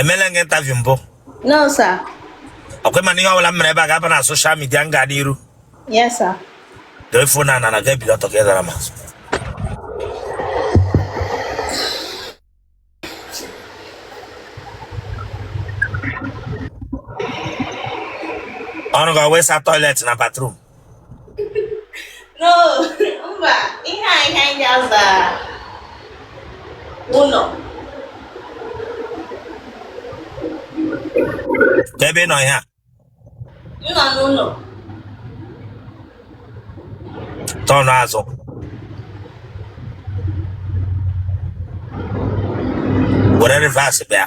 emela gị interview mbụ no sir ọkwa ịma na ihe ọbụla m mere ebe a ga-aba na social media m ga n'iru yes sir dee phone na na ga ebido ọtọ ka ị dara ma ọrụ gị wụ ịsa toilet na bathroom no mba ihe a ihe anyị ga-aza ụlọ kebe ị nọ ihe a m nọ n'ụlọ turn azụ were reverse bịa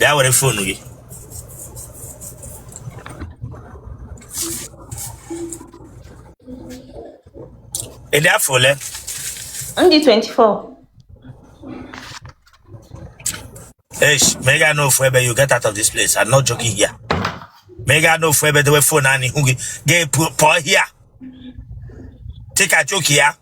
bịa were fonu gị ị dị afọ ole m dị 24 Eish, may God know forever you get out of this place. I'm not joking here. May God know forever the way phone and hungry. Get poor here. Take a joke here.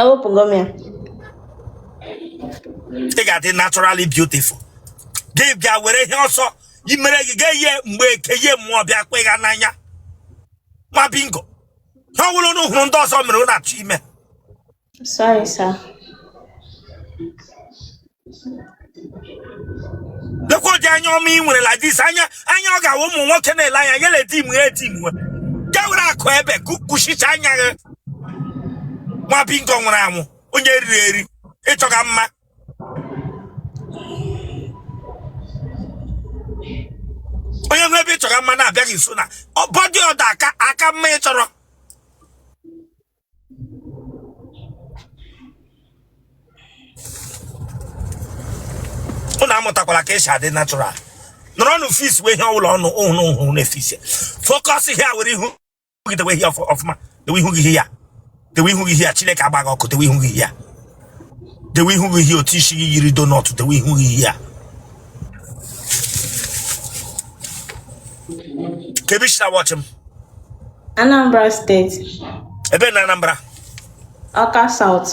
ewepụ ngọm ya ị ga-adị naturally beautiful gị bịa were ihe ọsọ imere gị ga ihe mgbeke ihe mmụọ bịa kwe ya n'anya nwa bingo ihe ọbụla unu hụrụ ndị ọzọ mere unu na-achọ ime Sorry, sir. lekwa ụdị anya ọma ị nwere like this anya anya ọ ga-awụ ụmụ nwoke na-ele anya ya na-eti mgbe ya eti mgbe ya were akụ ebe kụchicha anya gị nwa bingo nwụrụ anwụ onye eriri eri ịchọga mma onye nwe ebe ịchọga mma na-abịaghị nso na ọ body odour aka aka mma ị chọrọ unu amụtakwala ka esi adị natural nọrọnụ fixiwe ihe ọbụla unu hụ unu na-efix focus here were ihu gị dewe here ọfụma dewe ihu gị here dewe ihu gị here Chineke agba gị ọkụ dewe ihu gị here dewe ihu here otu isi gị yiri doughnut dewe ihu gị here kebe i si na wọchị m Anambra State, ebe na Anambra Ọka South,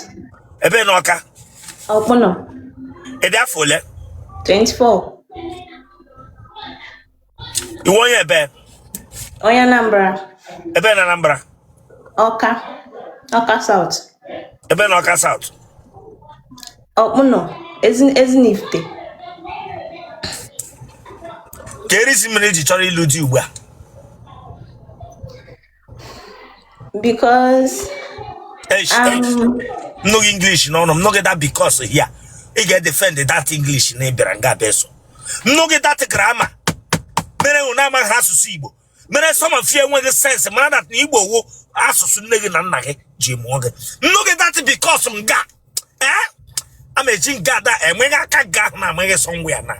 ebe na Ọka Ọkpụnọ, ebe afọ ole 24, ị wụ onye ebe onye Anambra ebe na Anambra Ọka Ọka South ebe na Ọka South Ọkpụnọ Ezi- Ezinifite ke reason mere i ji chọrọ ịlụ di ugbu a because Eish, eish. um m nụ gị English n'ọnụ m nụ gị that because here ị ga-edefend that English na ị bịara nga bịa sụọ m nụ gị that grammar mere unu amaghị asụsụ Igbo mere some of you enweghị sense mara that na Igbo wụ asụsụ nne gị na nna gị ji mụọ gị m nụ gị that because m ga ee a ma-eji nke ada enweghị aka nke ahụ na amaghị sọngwa ya na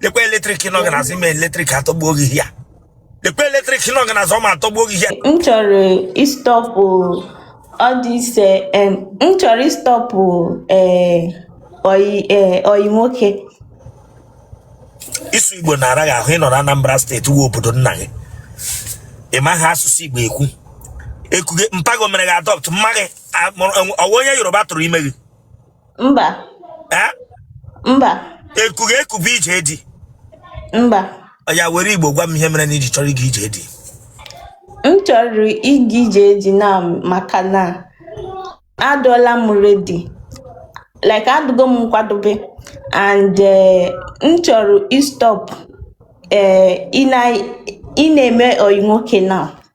lekwa eletrik nọ gị n'azụ ime eletrik atọgbuo gị ya lekwa eletrik nọ gị n'azụ ọ ma atọgbuo gị ya m chọrọ ịstop ọ dị ise em, m chọrọ ịstop ee ọyị ee ọyị nwoke ịsụ igbo na-ara gị ahụ ị nọ na anambra steeti wụ obodo nna gị ị maghị asụsụ igbo ekwu ekuge mpa gị ọ mere gị adopt mma gị A- mụrụ- enwe- ọ wụ onye yoruba tụrụ ime gị mba Eh? mba e ku gị eku bụ ije di mba ya were igbo gwa m ihe mere na i ji chọrọ ịga ije di m chọrọ ịga ije di na maka na adụọla m ready like adụgo m nkwadobe and eh, m chọrọ ịstop eh, ị na- ị na-eme ọyị nwoke na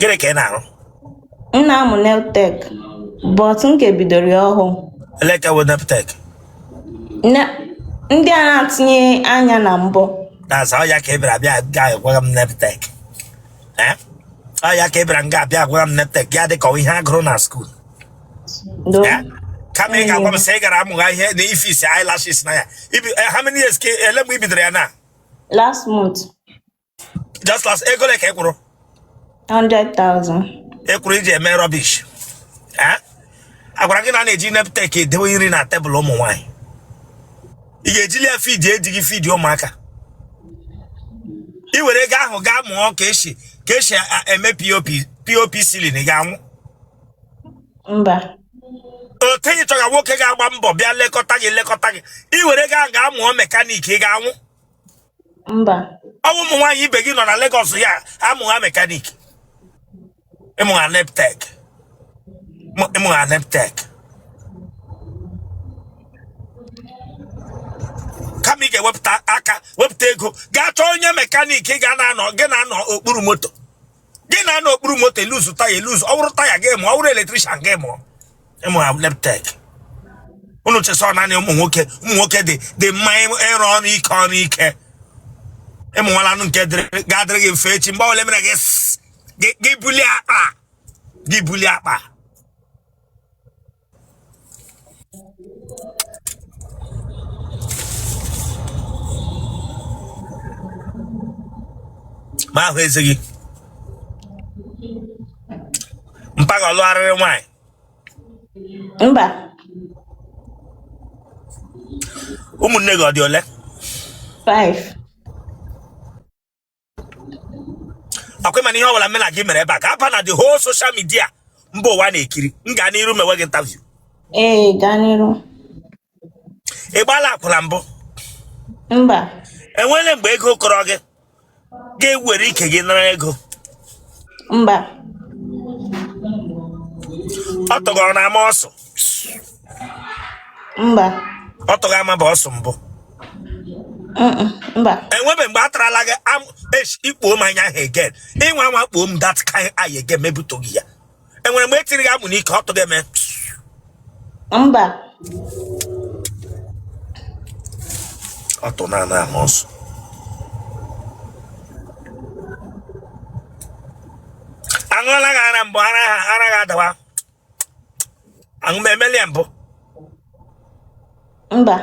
gịnị ka ị na-arụ m na-amụ nail tech but m ka bidoro ya ọhụụ ele ka bụ neptek Ne- ndị a na-etinye anya na mbọ na-aza ọ ya ka ị bịara bịa ga agwara m neptek ọ ya ka ị bịara m ga-abịa agwara m neptek ya dị ka ọ wụ ihe a gụrụ na skuul do Eh? kama ị ga-agwa m sị ị gara amụgha ihe na ifix eyelashes na ya Ibi- eh, how many years ka ele mgbe i bidoro ya na last month just last ego ole ka ị kwụrụ 100,000 ị kwụrụ iji eme rubbish Eh? a gwara gị na a na-eji neptek edewe nri na tebụl ụmụ nwaanyị ị ga-ejili ya feed ejighị feed ụmụaka ị were ego ahụ gaa mụọ ka e si ka e si a- eme pop pop ceiling ị ga-anwụ mba okay ị chọga nwoke ga-agba mbọ bịa lekọta gị lekọta gị ị were ego ahụ gaa mụọ mekaniki ị ga-anwụ mba ọ wụ ụmụ nwaanyị ibe gị nọ na Lagos ya amụgha mekaniki ị mụgha neptek mụ- ị mụgha neptek kama ị ga-ewepụta aka wepụta ego gaa chọọ onye mekaniki ga na-anọ gị na-anọ okpuru moto gị na-anọ okpuru moto e-loose taya e-loose ọ wụrụ taya gị mụọ ọ wụrụ electrician gị mụọ ị mụgha neptek unu che sị naanị ụmụ nwoke ụmụ nwoke dị dị mma ịrụ ọrụ ike ọrụ ike ị mụwala nke ga-adịrị gị mfe echi mgbe ole mere gị gị bulie akpa gị bulie akpa ma ahụ ezi gị mpa gị ọlụ arịrị nwaanyị mba ụmụnne gị ọ dị ole five ọkwa ị ma na ihe ọbụla m na gị mere ebe a ga-aba na the whole social media mba ụwa na-ekiri m gaa n'iru mewe gị interview ee gaa n'iru ị gbaala akwụla mbụ mba enwere mgbe ego kọrọ gị ga-ewere ike gị nara ego mba ọtụ gị ọ na-ama ọsụ mba ọtụ gị amabu ọsụ mbụ mba enwere mgbe a tarala gị ikpuo m anya ahụ egen ịnwa nwa kpuo m dat ka anyị ege mebutụghị ya enwere mgbe etiri gị amụ n'ike ọ tụghị eme mba ọ tụ na ana ahụ ọsụ aṅụọla gị ara mbụ ara ha ara gị adawa aṅụ m emeli ya mbụ mba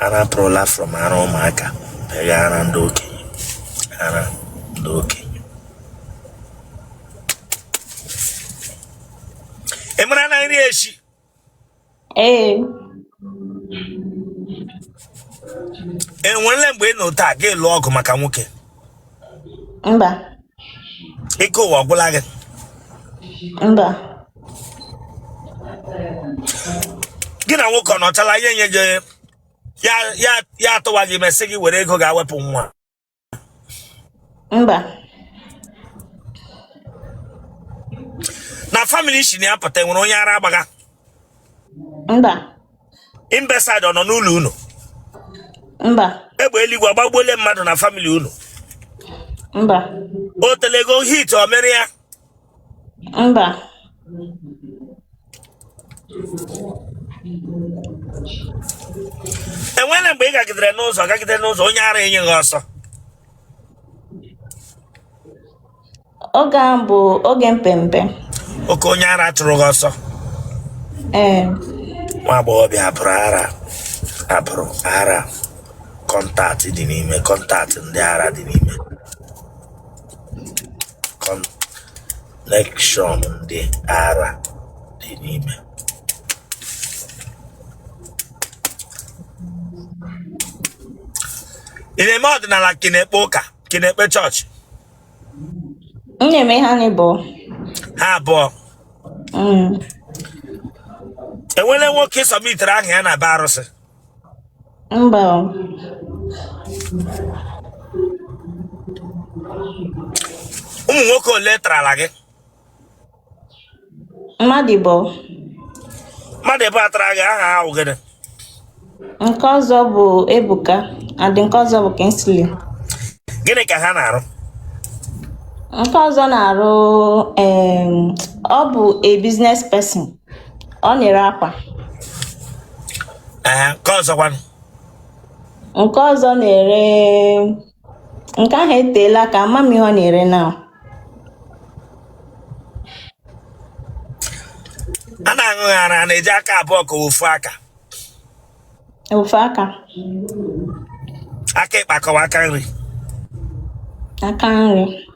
ara pụrụla from ara ụmụaka bịa ara ndị okenye ara ndị okenye ị mara na nri echi ee enwerele mgbe ị nọ taa gị lụọ ọgụ maka nwoke mba ike ụwa ọgwụla gị mba gị na nwoke ọ nọchala ya enye gị ya ya ya atụwa gị ime sị gị were ego gaa wepụ nwa mba na family ị si na ya pụta enwere onye ara agbagha mba imbecile ọ nọ n'ụlọ unu mba egbe eluigwe agbagbuole mmadụ na family unu mba o telego hit o mere ya Mba. enwere mgbe ị gagidere n'ụzọ gagide n'ụzọ onye ara enye gị ọsọ Oge ahụ bụ oge m pe mpe. okay onye ara chụrụ gị ọsọ Ee. nwa agbọghọ bịa abụrụ ara abụrụ ara contact dị n'ime contact ndị ara dị n'ime connection ndị ara dị n'ime ị na-eme ọdịnala ka ị na-ekpe ụka ka ị na-ekpe chọọchị M na-eme ha naabọ. ha abụọ Mm. enwele nwoke ị submitiri aha ya na be arụsị Mba o. ụmụ nwoke ole tarala gị Mmadụ abụọ mmadụ abụọ tara gị aha ha bụ gịnị nke ọzọ bụ Ebuka and nke ọzọ bụ Kingsley. gịnị ka ha na-arụ Nke ọzọ na-arụ em, ọ bụ a business person. ọ na-ere akwa ee nke ọzọkwanụ nke ọzọ na-ere nke ahụ eteela aka ama m ihe ọ na-ere na a na-aṅụ gị ara a na-eji aka abụọ ka ofu aka ofu aka aka ịkpa ka ọ wụ aka nri aka nri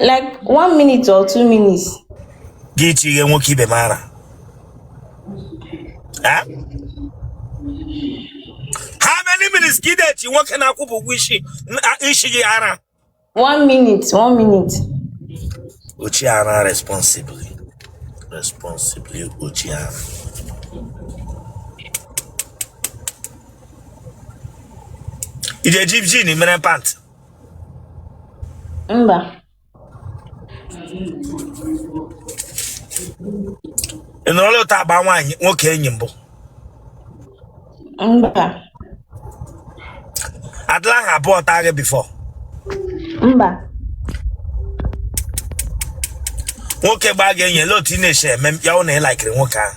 like one minute or two minutes gị chi ihe nwoke ibe m ara Eh? how many minutes ka ị na-echi nwoke na-akwụbeghị ụgwọ isi na- isi gị ara one minute one minute ochi ara responsibly responsibly ochi ara ị ga-eji jin mere pant Mba. ị nọrọla otu a gbaa nwa nwoke enyi mbụ Mba. adịla ha abụọ taa gị before Mba. nwoke gbaa gị enyi ele otu ị na-esi eme ya hụ na ị laikiri nwoke ahụ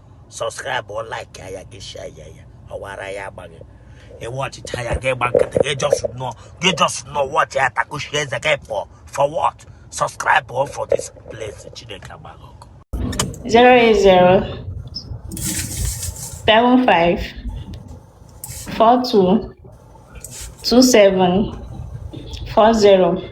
subscribe like ya gị share ya ya ọwara ya agbaghị ị wọchịcha ya gị gba nkịtị gị just nọ gị just nọ wọchị ya takushi eze gị pụọ for what subscribe all for this place Chineke agba gị ọkụ 080 75 42 27 40